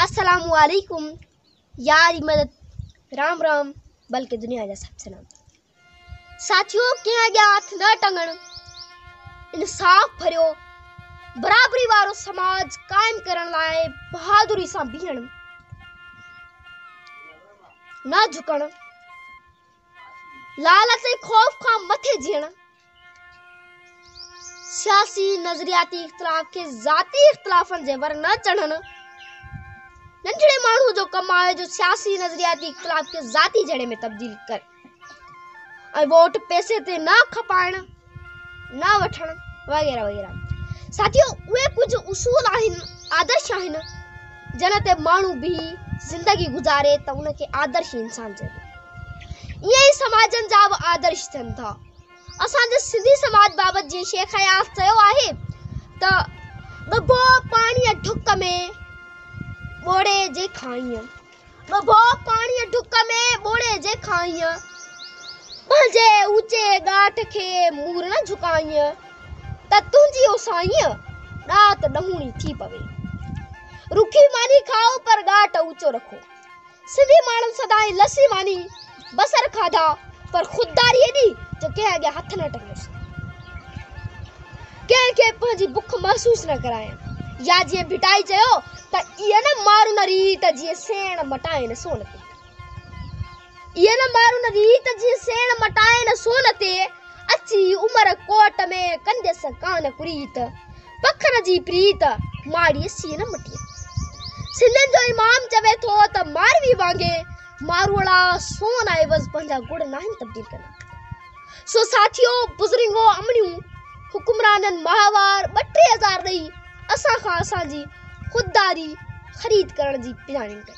السلام عليڪم ياري مدد رام رام بلڪه دنيا جا سڀ سلام ساٿيو ڪنهن اڳيان هٿ نه ٽنگڻ انصاف ڀريو برابري وارو سماج قائم ڪرڻ لاء بهادري سان بيهڻ نه جھڪڻ لالچ ۽ خوف کان مٿي جيئڻ، سياسي نظرياتي اختلاف کي ذاتي اختلافن جي ور نه چڙهڻ، ننڍڙي ماڻهوء جو ڪم آهي جو سياسي نظرياتي اختلاف کي ذاتي جهيڙي ۾ تبديل ڪري ۽ ووٽ پئسي تي نه کپائڻ، نه وٺڻ وغيره وغيره ساٿيو اهي ڪجهه اصول آهن آدرش آهن جن تي ماڻهو بيهي زندگي گذاري ته ان کي آدرش انسان چئبو ائين ئي سماجن جا به آدرش ٿين ٿا اسان جي سنڌي سماج بابت جيئن شيخ اياز چيو آهي ته ڏبو پاڻي ڍڪ ۾ ٻوڙي جي کائين ٻه ڀوء پاڻيء ڍڪ ۾ ٻوڙي جي کائينء، پنهنجي اوچي ڳاٺ کي مور نه جهڪائينء ته تنهنجي او سائينء ڏات ڏهوڻي ٿي پوي. رکي ماني کائو پر ڳاٽ اوچو رکو. سنڌي ماڻهن سدائين لسي ماني بصر کاڌا پر خودداري ايڏي جو ڪنهن اڳيان هٿ نه ٽنگيس. ڪنهن کي پنهنجي بک محسوس نه ڪرايائين. يا جيئن ڀٽائي چيو ته ايئن نه مارون ريت جيئن سيڻ مٽائين سون تي. ايئن نه مارون ريت جيئن سيڻ مٽائين سون تي. اچي عمر ڪوٽ ۾ ڪنديس ڪانه ڪريت. پکن جي پريت ماڙيء سين مٽي. سنڌين جو امام چوي ٿو ته ماروي وانگي ماروئڙا سون عيوض پنهنجا گڙ ناهن تبديل ڪندا. سو ساٿيو بزرنگو امڙيون حڪمرانن ماهوار ٻه ٽي هزار ڏئي اسان کان اسان جي خودداري خريد ڪرڻ جي پڄاڻين ڪئي.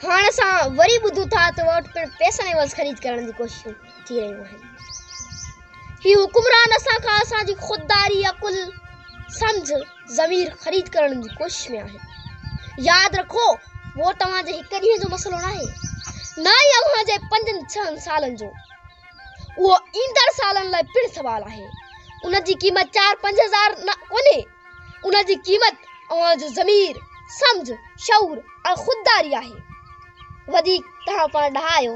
هاڻ اسان وري ٻڌون ٿا ته ووٽ پڻ پئسن عيوض خريد ڪرڻ جي ڪوششون. ٿي رهيون آهن. هي حڪمران اسان کان اسان جي خودداري، عقل، سمجهه، ضمير خريد ڪرڻ جي ڪوشش ۾ آهن. ياد رکو ووٽ اوهان جي هڪ ڏينهن جو مسئلو ناهي، نه ئي اوهان جي پنجن ڇهن سالن جو. اهو ايندڙ سالن لاء پڻ سوال آهي. ان جي قيمت چار پنج هزار نه ڪونهي، ان جي قيمت اوهان جو ضمير، سمجهه، شعور ۽ خودداري آهي. وڌيڪ توهان پاڻ ڏاها آهيو.